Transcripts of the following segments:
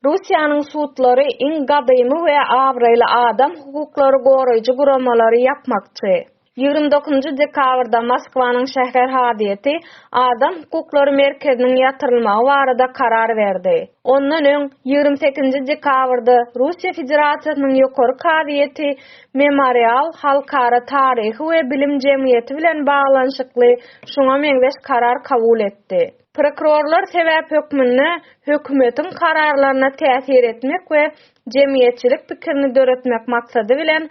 Russiýanyň sudlary iň gadymy we abraýly adam hukuklary goraýjy guramalary ýapmakçy. Ýigrimi dokuzynjy dekabrda Moskwanyň şäher hazyýeti Adam hukuklary merkeziniň ýatyrylmagy barada karar berdi. Ondan öň, ýigrimi sekizinji dekabrda Russiýa Federasiýasynyň Ýokary kazyýeti Memorial halkara taryhy we bilim jemgyýeti bilen baglanyşykly şuňa meňzeş karar kabul etdi. Prokurorlar sebäp hökmünde hökümetiň kararlaryna täsir etmek we jemgyýetçilik pikirini döretmek maksady bilen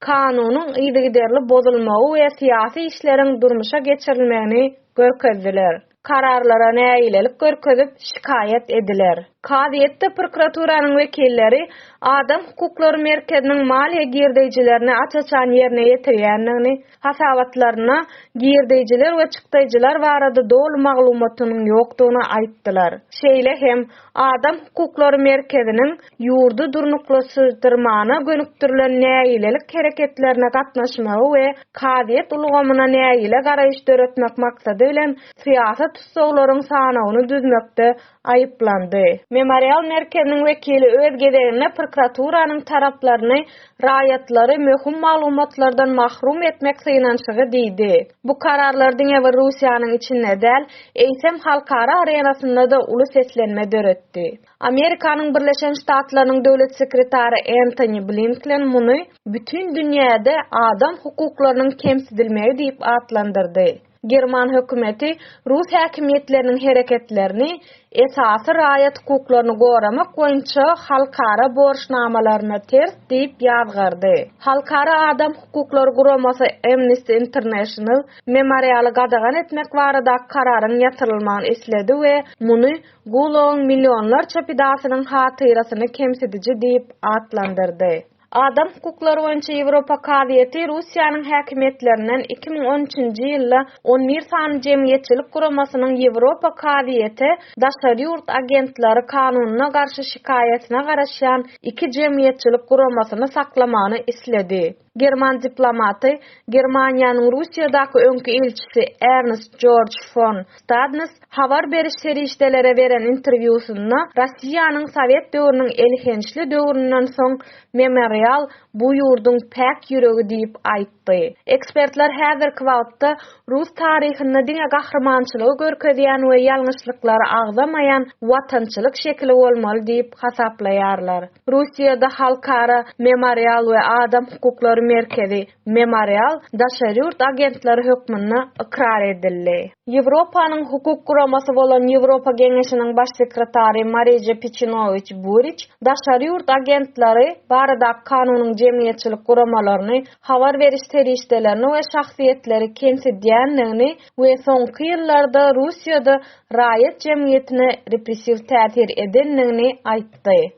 kanunyň yzygiderli bozulmagy we syýasy işleriň durmuşa geçirilmegini görkezdiler. Kararlara nägilelik görkezip, şikaýat ediler. Kazyýetde prokuraturanyň wekilleri Adam hukuklary merkeziniň maliýe girdeýjilerini aç-açan ýerine ýetirýändigini, hasabatlaryna girdeýjiler we çykdaýjylar barada doly maglumatynyň ýokdugyny aýtdylar. Şeýle hem, Adam hukuklary merkeziniň ýurdy durnuklaşydyrmana gönükdirilen nägilelik hereketlerine gatnaşmagy we kazyýet ulgamyna nägile garaýyş döretmek maksady bilen syýasy tussaglaryň sanawyny düzmekde aýyplandy. Memorial merkeziniň wekili öz gezeginde prokuraturanyň taraplaryny raýatlary möhüm maglumatlardan mahrum etmek synanyşygy diýdi. Bu kararlar diňe bir Russiýanyň içinde däl, eýsem halkara arenasynda-da uly seslenme döretdi. Amerikanyň Birleşen Ştatlarynyň döwlet sekretary Entoni Blinklen muny bütin dünýäde adam hukuklarynyň kemsidilmegi diýip atlandyrdy. German hökümeti rus häkimiýetleriniň hereketlerini esasy raýat hukuklaryny goramak boýunça halkara borçnamalaryna ters diýip ýazgardy. Halkara adam hukuklary guramasy Amnesty International Memorialy gadagan etmek baradaky kararyň ýatyrylmagyny isledi we muny Gulagyň millionlarça pidasynyň hatyrasyny kemsidiji diýip atlandyrdy. Adam hukuklary boýunça Ýewropa kazyýeti Russiýanyň häkimiýetlerinden iki müň on üçünji ýylda on bir sany jemgyýetçilik guramasynyň Ýewropa kazyýete daşary ýurt agentleri kanunyna garşy şikaýatyna garaşýan iki jemgyýetçilik guramasyny saklamagyny isledi. German diplomaty, Germaniýanyň Russiýadaky öňki ilçisi Ernst Jorj fon Stadnys Habar beriş serişdelere beren interwýusynda Rossiýanyň sowet döwrüniň elhençli döwründen soň Memorial bu ýurduň päk ýüregi diýip aýtdy. Ekspertler häzirki wagtda rus taryhynda diňe gahrymançylygy görkezýän we ýalňyşlyklary agzamaýan watançylyk şekili bolmaly diýip hasaplaýarlar. Russiýada Halkara Memorial we Adam hukuklary merkezi Memorial daşary ýurt agentleri hökmünde ykrar edildi. Ýewropanyň hukuk guramasy bolan Ýewropa Geňeşiniň Baş sekretary Marije Piçinowiç Buriç daşary ýurt agentleri baradaky kanunyň jemgyýetçilik guramalaryny, habar beriş serişdelerini we şahsyýetleri kemsidýändigini we soňky ýyllarda Russiýada raýat jemgyýetine repressiw täsir edendigini aýtdy.